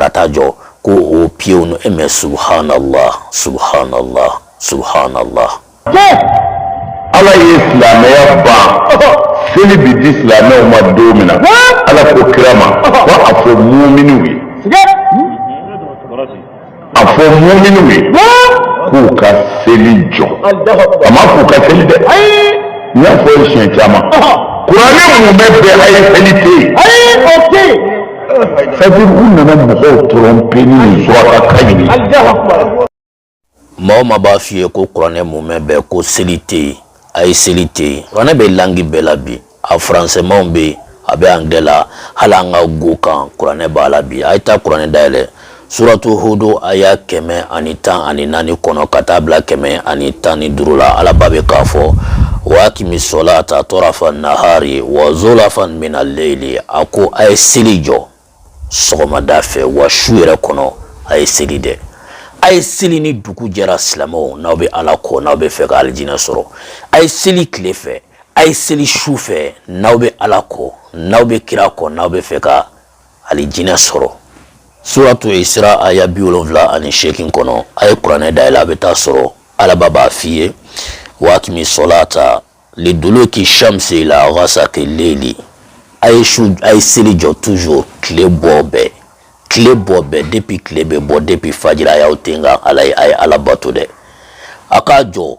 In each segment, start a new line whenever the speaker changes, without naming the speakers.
ka taa jɔ ko o piyew ni e mɛ subhanallah subhanallah
subhanallah. ala ye silamɛya ban seli bi di silamɛw ma don min na ala ko kira ma ko a fɔ muminiw ye a fɔ muminiw ye k'u ka seli jɔ a ma k'u ka seli dɛ n y'a fɔ ye siɲɛ caman kuranɛ mumɛ bɛɛ a ye seli tɛ yen. sabu u nana mɔgɔw tromper ni surakakan ye
ni mɔgɔ maa b'a f'i ye ko kuranɛ mumɛ bɛɛ ko seli tɛ yen a ye seli tɛ yen kuranɛ bɛ langue bɛɛ la bi a faransɛmanw bɛ yen a bɛ angilɛ la hali an ka nko kan kuranɛ b'a la bi a ye taa kuranɛ dayɛlɛ suratu hudu aya kɛmɛ ani tan ani naani kɔnɔ ka taa bila kɛmɛ ani tan ni duuru la alaba bɛ k'a fɔ wa akimi sɔlata tarafa nahari wa zulafan mina leyili a ko a ye seli jɔ sɔgɔmada fɛ wa su yɛrɛ kɔnɔ a ye seli dɛ a ye seli ni dugu jɛra silamɛw n'aw bɛ ala kɔ n'aw bɛ fɛ ka alijinɛ sɔrɔ a ye seli tile fɛ a ye seli su fɛ n'aw bɛ ala kɔ n'aw bɛ kira kɔ n'aw bɛ fɛ ka alijinɛ sɔrɔ suratu isira aya bi wolonwula ani seegin kɔnɔ a ye kuranɛ dayɛlɛ a bɛ t'a sɔrɔ alaba b'a f'i ye wa akimi sɔlata liduluki shamsi ila ghasaki leli a ye su a ye seli jɔ toujours tile bɔ bɛɛ tile bɔ bɛɛ depuis tile bɛ bɔ depuis fajiri a y'aw ten kan ala ye a ye ala bato dɛ a k'a jɔ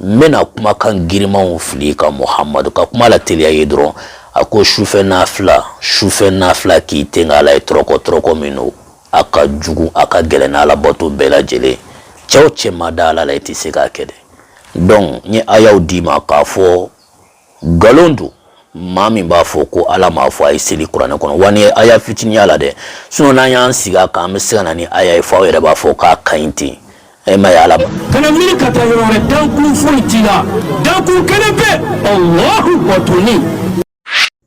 n bɛna kumakan girimanw fili i kan muhamadu ka kuma lateliya i ye dɔrɔn a ko sufɛ nafila sufɛ nafila k'i ten ka ala ye tɔrɔkɔ tɔrɔkɔ min don a ka jugu a ka gɛlɛn n'ala bato bɛɛ lajɛlen cɛ o cɛ ma da ala la i tɛ se k'a kɛ dɛ donc n ye ayaw d'i ma k'a fɔ nkalon don maa min b'a fɔ ko ala m'a fɔ a ye seli kuranɛ kɔnɔ wa nin aya fitinin y'a la dɛ sinon n'an y'an sigi a kan an bɛ se ka na ni aya ye fo aw yɛrɛ b'a fɔ k'a ka ɲi ten e ma ye ala ma. kana miiri ka taa
yɔrɔ wɛrɛ dankun foyi t'i la dankun kelen pe alahu batoli.